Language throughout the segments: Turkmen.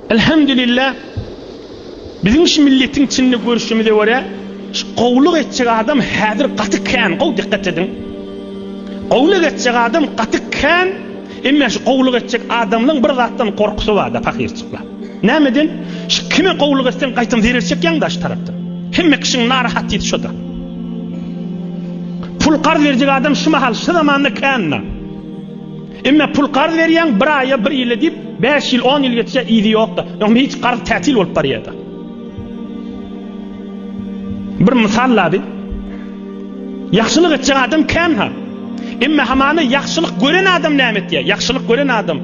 Elhamdülillah biziň şu milletiň içinde görüşimize görä şu gowluk etjek adam häzir gaty kän gowy dikkat ediň gowluk etjek adam gaty kän emme şu gowluk etjek adamlaň bir zatdan gorkusy barda pahyrçyklar nämeden şu kime gowluk etseň gaýtam zerer çekýäň daş tarapdan hemme kişiň narahatysy şoda pul garz berjek adam şu mahal şu zamanda kända. Emme pul karz berýäň bir aýa bir ýyla diýip bäş ýyl on ýyl geçýä yzy ýokda öňde hiç karz tätil bolup barýada. Bir mysal lady. Ýagşylyk etjek adam känha. Emme hamana ýagşylyk gören adam näme etýä? Ýagşylyk gören adam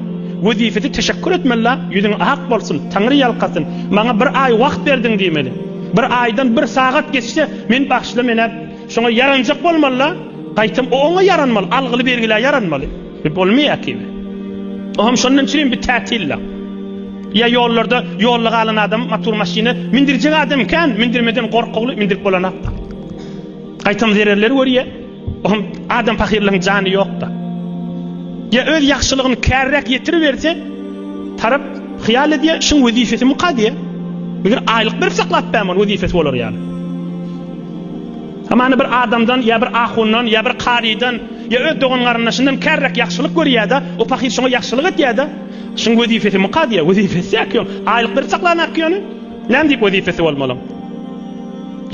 wezipesi teşekkur etmeli la ýüzüň ak bolsun taňry ýalkasyn maňa bir aý wagt berdiň diýmeli. Bir aýdan bir sagat geçse men bagşyla menä Şoňa ýaranjak bolmaly-da, gaýtam o oňa ýaranmaly, algyly bergilä ýaranmaly. Bu bolmaýar kibi. O hem şondan çürim bir tätilla. Ýa ýollarda, ýolda galan adam motor maşyny mindirjek adam kän, mindirmeden gorkugly, mindirip bolanok-da. Gaýtam zererleri görýär. O hem adam pahyrlaryň jany ýok-da. Ýa öz ýagşylygyny käriräk ýetiriberse, tarap hyýal edýär, şuň wezipesi muka diýýär. Meger aýlyk berip saklap bäm ony wezipesi bolar ýaly. Hamana bir adamdan ýa bir ahundan ýa bir kazydan ýa öz dogan-garyndaşyndan kärräk ýagşylyk görýär-de, o pahyr şoňa ýagşylyk edýär-de. Şuň wezipesimi kazyýa? Wezipesi-ä kän. Aýlyklary çaklanak ýöne. Näme diýip wezipesi bolmalyň?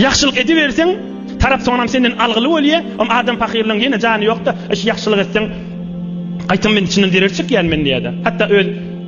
Ýagşylyk ediberseň, tarap soňunam senden algyly bolýa. Oň adam pahyrlaryň ýene jany ýok-da, eş ýagşylyk etseň, gaýtam men içinden zerer çekýän men diýýär-de. Hatda öz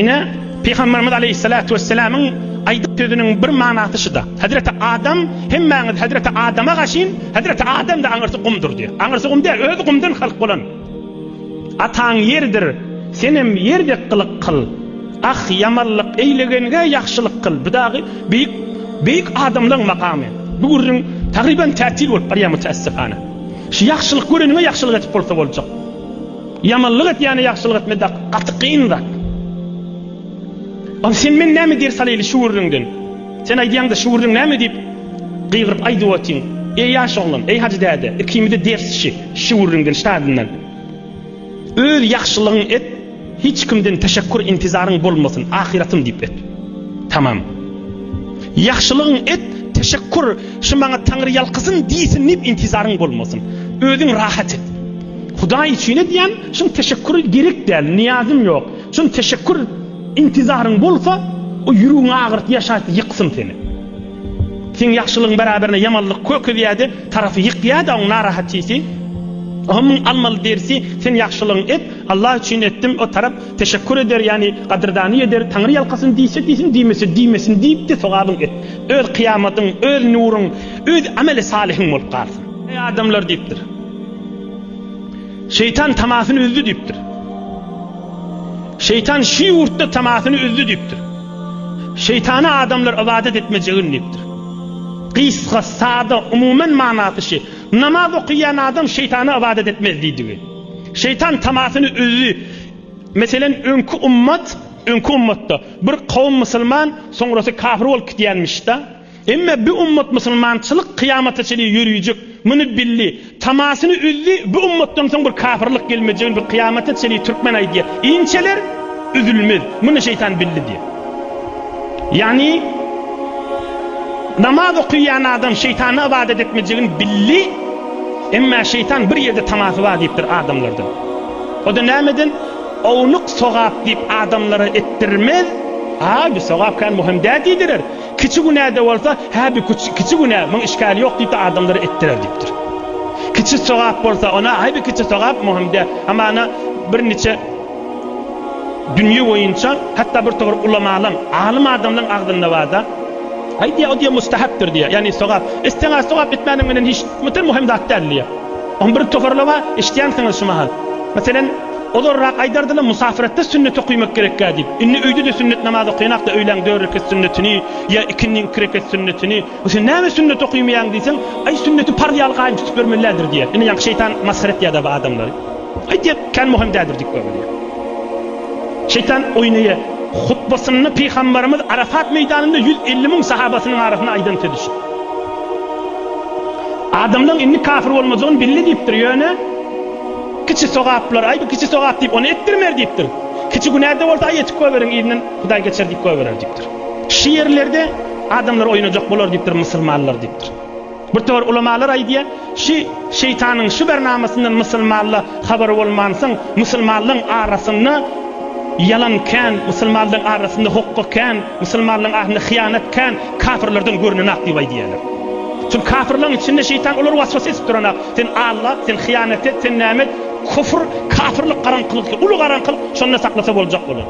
Ine, Pygamberimiz aleýhissalatu wesselamyň aýdyp sözüniň bir manasy şuda, Hezreti Adam, hemmäňiz Hezreti Adama gaşyn, Hezreti Adam-da aňyrsy gumdur diýip. Aňyrsy gum däl, özi gumdan halk bolan. Ataň ýerdir, senem ýer dek gylyk kyl. Ah, ýamanlyk eýlegenge ýagşylyk kyl. Bu dagy beýik, beýik adamlaň makamy. Bu gürrüň tagryban tätil bolup barýar müteessifana. Şu ýagşylyk göreniňe ýagşylyk edip bolsa boljak. Ýamanlyk etýäne ýagşylyk etme dak gaty kyn zat. Ol sen men näme ders alyly şu gürrüňden. Sen aýdýaňda şu gürrüň näme diýip gygyryp aýdyp otyň. Eý ýaş oglan, eý Hajy däde, ikimize ders şi, şu gürrüňden, ştadyndan. Öz ýagşylygyň et, hiç kimden teşekkur intizaryň bolmasyn, ahyratym diýip et. Tamam. Ýagşylygyň et, teşekkur, şi maňa Taňry ýalkasyn diýsin diýip intizaryň bolmasyn. Özüň rahat et. Hudaý üçin edýän şum teşekkür gerek däl, niýazym ýok. Şum teşekkür intizaryň bolsa, o ýüregiňi agyryp ýaşaýsa ýyksyn seni. Seň ýagşylygyň beraberine ýamanlyk kökezýäde, tarapy ýykýada oň narahatisi. Oho muň almaly dersi sen ýagşylygyň et, Allah üçin etdim, o tarap teşekkür eder ýani gadyrdany eder, Taňry ýalkasyn diýse diýsin diýmese diýmesin diýipde sogabyň et. Öz kyýamatyň, öz nuruň, öz ameli salyhyň bolup galsyn. Eý adamlar diýipdir. Şeýtan tamasyny üzdi diýipdir. Şeýtan şu ýurtda tamasyny üzdi diýipdir. Şeýtana adamlar ybadat etmejegin diýipdir. Gysga, sada, umumen manasy şi, namaz okaýan adam şeýtana ybadat etmez diýdigi. Şeýtan tamasyny üzdi. Meselen, öňki ummat, öňki ummatda bir kowum musulman, soňrasy kafir bolup gidýänmiş-de. Emme bi ummat musulmançylyk kyýamata çenli ýörüjek, muny bildi, tamasyny üzdi, bi ummatdan soň bir kapyrlyk gelmejegini bir kyýamata çenli türkmen aýdýar, inçeler, üzülmez, muny şeýtan bildi diýýär. Ýagny namaz okyýan adam şeýtana ybadat etmejegini bildi, emme şeýtan bir ýerde tamasy bar diýipdir adamlardan. O-da nämeden? Ownuk sogap diýip adamlara etdirmez, a bi sogap kän muhim dä diýdirer. Kiçi günä-de bolsa, hä bi kiçi günä, muň işgäli ýok diýip-de adamlara etdirer diýipdir. Kiçi sogap bolsa, ona, häý bi kiçi sogap, muhim däl. Hamana bir niçe dünýe boýunça, hatda bir togry ulamalaň, alym adamlaň agzynda bar-da, Häý diýýär, o diýýär mustahapdyr diýýär, ýagny sogap. Etseň-ä sogap, etmäniň menen hiç bir muhim zat däl diýýär. Oň bir tohurly bar, eşitýänsiňiz şu mahal. Meselem. Ozalrak aýdardylar, Musafirlikde sünnet okaýmak gerekkä diýip. Indi öýde-de sünnet namaz okaýan-da öýlän dört reket sünnetini ýa ikindiň iki reket sünnetini. Bu sen näme sünnet okaýmaýaň diýseň, Aý, sünneti parz ýaly gaýym tutup ýörmelilädir diýýär. Indi ýaňky şeýtan masgara etýär-dä bu adamlary. Aý, diýýär, kän möhüm däldir diýip görme diýýär. Şeýtan oýnaýar. Hutbasynda Pygambarymyz Arafat meýdanynda ýüz elli müň sahabasynyň arasynda aýdan sözi şu. Adamlaryň indi kafir bolmajagyn bildi diýipdir, ýöne. Kiçi sogaplar, aý bu kiçi sogap diýip ony etdirmer diýipdir. Kiçi günäde bolsa aý etip goýberiň yzyndan Hudaý geçer diýip goýberer diýipdir. Şu ýerlerde adamlar oýnajak bolar diýipdir musulmanlar diýipdir. Bir topar ulamalar aýdýar, şu şeýtanyň şu bernamasyndan musulmanda habary bolmansoň musulmanlaryň arasynda ýalan kän, musulmanlaryň arasynda hokga kän, musulmanlaryň arasynda hyýanat kän, kafirlerden görnenak diýip aýdýarlar. Çünki kafirleriň içinde şeýtan olary waswas edip duranak. Sen allak, sen hyýanat et, sen näme et, küfr, kafirlik garaňkylykdy, uly garaňkylyk, şonda saklasa boljak bolar.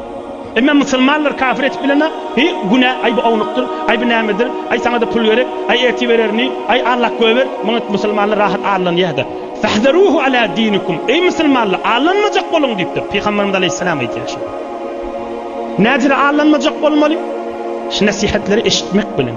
Emma musulmanlar kafir edip bilenok, hi, günä, aý bu ownukdyr, aý bu nämedir, aý saňa-da pul gerek, aý ertir bererini, aý allak göýber, muňa musulmanlar rahat allanýa-da. Fahzaruhu ala dinikum, eý musulmanlar, allanmajak boluň diýipdir, pygamberimiz aleýhissalam aýtýar şuny. Nädire allanmajak bolmaly? Şu nesihatleri eşitmek bilen.